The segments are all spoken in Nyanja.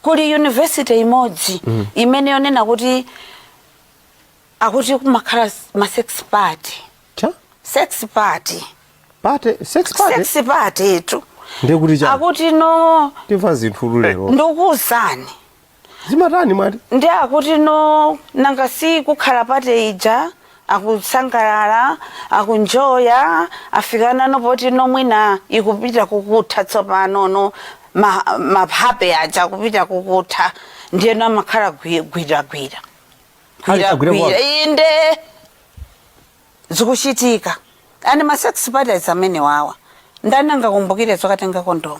kuli yunivesite imodzi imene yonena kuti akuti kumakhala ma sex party sex party party sex party sex party tu ndekuti cha akuti no timva zinthu lero ndikuuzani zimatani mwati ndi akuti no nanga si kukhala party ija akusangalala, akuenjoya, afika pano poti no mwina ikupita kukutha tsopano no ma, mashape aja akupita kukutha ndiye no amakhala gwi- gwiragwira Ali- agwira gwiragwira kwake. inde zikuchitika ani ma sex parties amenewawa ndani angakumbukire zokatenga kondomu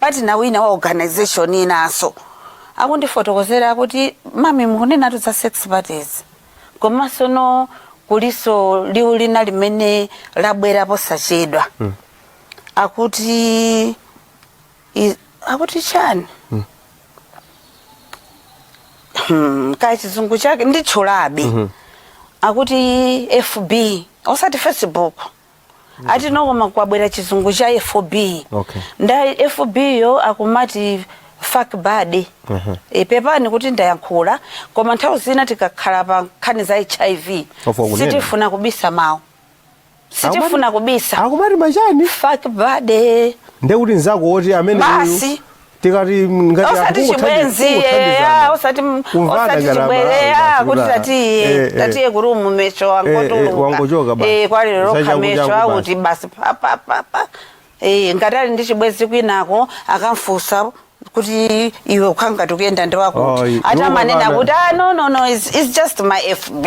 Party ina wina wa organization inaso akundifotokozera kuti mami mukunenatu za sex parties komanso no kuliso liwu lina limene labwera posachedwa mm. akuti i, akuti chani mm. hmm, kaya chizungu chake nditchulabe mm -hmm. akuti fb osati facebook ati no koma kwabwera chizungu cha FB okay. ndiye FB yo akumati fuck buddy uh -huh. e, pepani kuti ndayankhula koma nthawi zina tikakhala pa nkhani za HIV sitifuna kubisa mawu sitifuna kubisa akumati ma chani fuck buddy ndekuti nzako woti amene basi tikati m- ngati anthu osati kungothandiza- chibwenzi eh, kungothandizana. ah, osati m- Kumvana osati ngati chibwenzi amalawi eh, ah, basi, kuti kuti, tatiye eh, eh. tatiye ku room mecho Eh, eh, wangotuluka wangochoka basi. Eh, walokha Zachaku- mecho chaku basi. akuti basi papapapa ngati ali ndi chibwenzi kwinako akamfusa kuti iwe ukhala ngati ukuyenda ndi wakuti i- ati iwo amanena kwakana. kuti ah, no no no it's, it's just my fb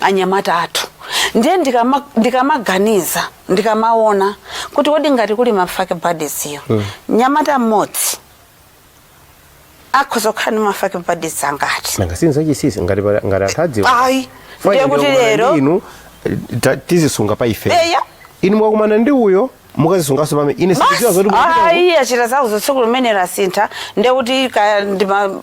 anyamata athu ndiye ndikama- ndikamaganiza ndikamaona kuti kodi ngati kuli ma fuck buddies-wo mnyamata mmodzi akhoza kukhala ndi ma fuck buddies angati nanga si nzachinsinsi ngati pali- ngati anthu adziwa ayi Fine, ndiye kuti ndikukumana lero ndi inu eh, ta- tizisunga pa ife Eya. inu mwakumana ndi uyo mukazisunganso pomwe ine sindikudziwa zoti mukupita uko. ayi achita zawo tsiku limenelo asintha ndiye kuti kaya ndi ma-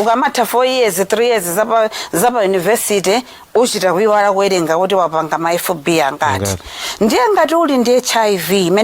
ukamatha 4 years 3 years zapa zapa university uchita kuiwala kuwerenga kuti wapanga ma fb angati Angati. ndiye ngati uli ndi hiv imene